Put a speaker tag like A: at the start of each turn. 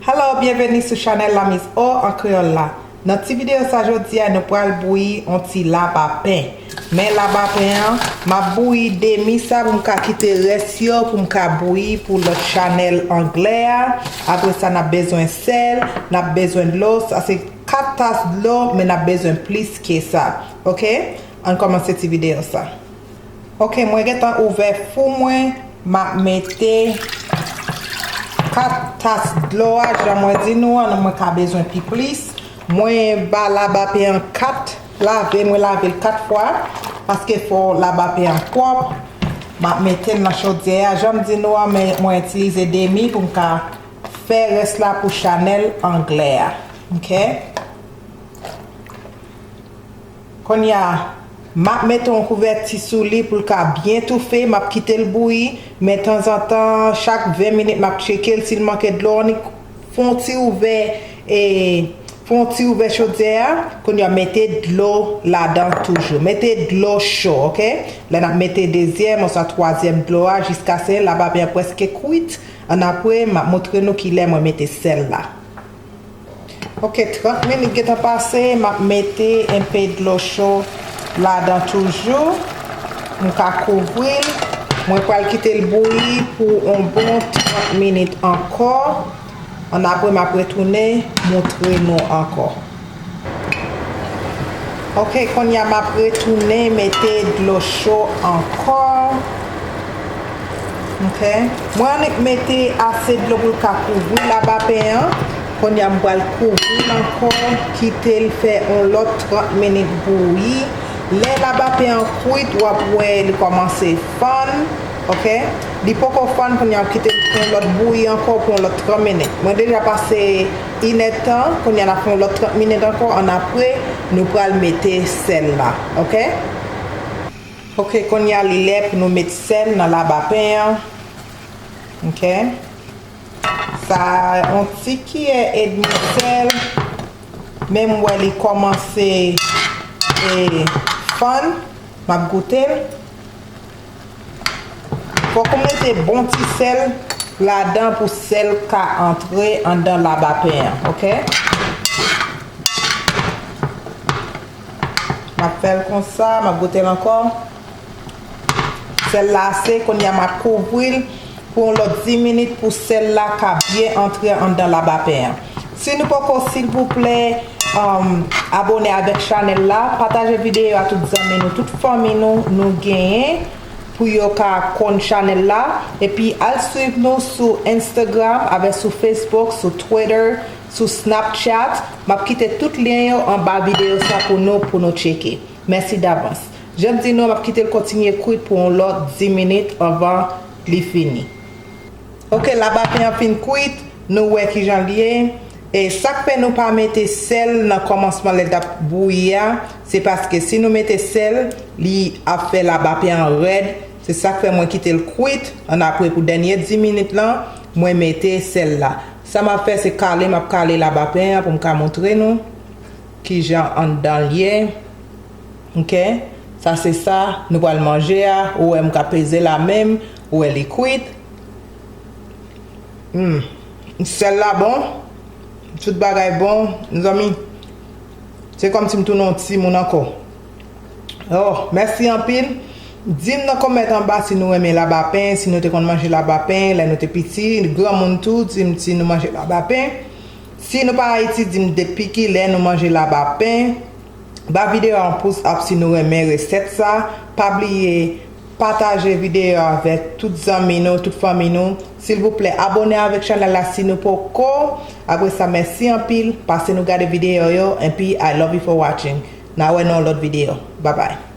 A: Hello byenveni sou chanèl la Miss O an kreyòl la Nan ti videyo sa jodi a nou pral bouyi on ti laba pen Men laba pen an map bouyi demi sa pou m ka kite rès yo pou m ka bouyi pou lòt chanèl anglè a Apre sa nap bezwen sèl nap bezwen dlo sa se 4 tas dlo men nap bezwen plis ke sa ok ann komanse ti video sa ok mwen gentan ouvè fou mwen map mete 4 tas dlo a jan mwen di nou an mwen ka bezwen pi plis mwen ba labapen an 4 lave mwen lavel 4 fwa paske fò labapen an pwòp map metel nan chodyè a janm di nou an mwen itilize demi poum ka Fè rès la pou chanèl anglè a ok konnya map mete yon kouvèti sou li poul ka byen toufe map kitel bouyi men tanzantan chak 20 minit map tchekel sil manke dlo annik fè yon ti ouvè e fè yon ti ouvè chodyè a konnya mete dlo ladan toujou mete dlo cho ok lè nap mete dezyèm oswa twazyèm dlo a jiskase labapen an prèske kwit Annapre m ap montre nou ki lè mwen mete sèl la. Ok 30 minit gentan pase m ap mete enpe dlo cho ladan toujou m ka kouvri l mwen pral kite l bouyi pou on bon 30 minit ankò annapre m ap retounen montre nou ankò. Ok konya map retounen mete dlo cho ankò ok mwen annik mete ase dlo pou l ka kouvri labapen an konya m pral kouvri l ankò kite l fè yon lòt 30 minit bouyi lè labapen an kwit wap wè li kòmanse fann ok li poko fann kounye a kite l fè yon lòt bouyi ankò pou yon lòt 30 minit mwen deja pase Inèdtan kounya nap fè yon lòt 30 minit ankò an apre nou pral mete sèl la ok. Ok kounya li lè pou nou met sèl nan laba pen an ok sa yon ti kiyè edmi sèl menm wè li kòmanse fann map goutel. Fok ou mete bon ti sel ladan pou sel ka antre andan labapen an ok. Map fel konsa map gotel anko. Sel la ase kounye a map kouvril. pou yon lòt 10 minit pou sèl la ka byen antre anndan labapen an si nou poko silvouplè abone avèk chanèl la pataje videyo a tout zanmi nou tout fanmi nou nou genyen pou yo ka konn chanèl la epi al swiv nou sou instagram avèk sou facebook sou twitter sou snapchat map kite tout lyen yo anba videyo sa pou nou pou nou tcheke. Mèsi davans. Janm di nou, map kitel kontinye kwit pou yon lòt 10 minit anvan li fini. Ok la baten an fin kwit, nou wè kijanl ye. E sak fè nou pa mete sèl nan kòmansman lè nap bouyi a, se paske si nou mete sèl, li ap fè la baten an rèd, se sak fè mwen kitel kwit, an apre pou dènye 10 minit lan, mwen mete sèl la. Sa map fè se kale map kale la baten an poum ka montre nou. Kijan anndan l ye? Ok. Sa se sa nou pral manje a. Ou wè m ka peze l a men m. Ou wè li kwit. Humm. Sèl la bon. Tout bagay bon. Mezanmi, se kòmsi m tounen yon timoun ankò. Oh, mèsi anpil. Di m nan kòmèt anba si nou renmen labapen, si nou te konn manje labapen lè nou te piti. Granmoun tou, di m si nou manje labapen. Si nou pa ayiti dim depi kilè nou manje laba pen ba video a yon pous up si nou renmen resèt sa pa bliye pataje video avèk tout zanmi nou tout fanmi nou silvouplè abone avèk chanèl la si nou poko apresa mèsi anpil pase nou gade video yo enpi I love you for watching na wè nan yon lòt video babay.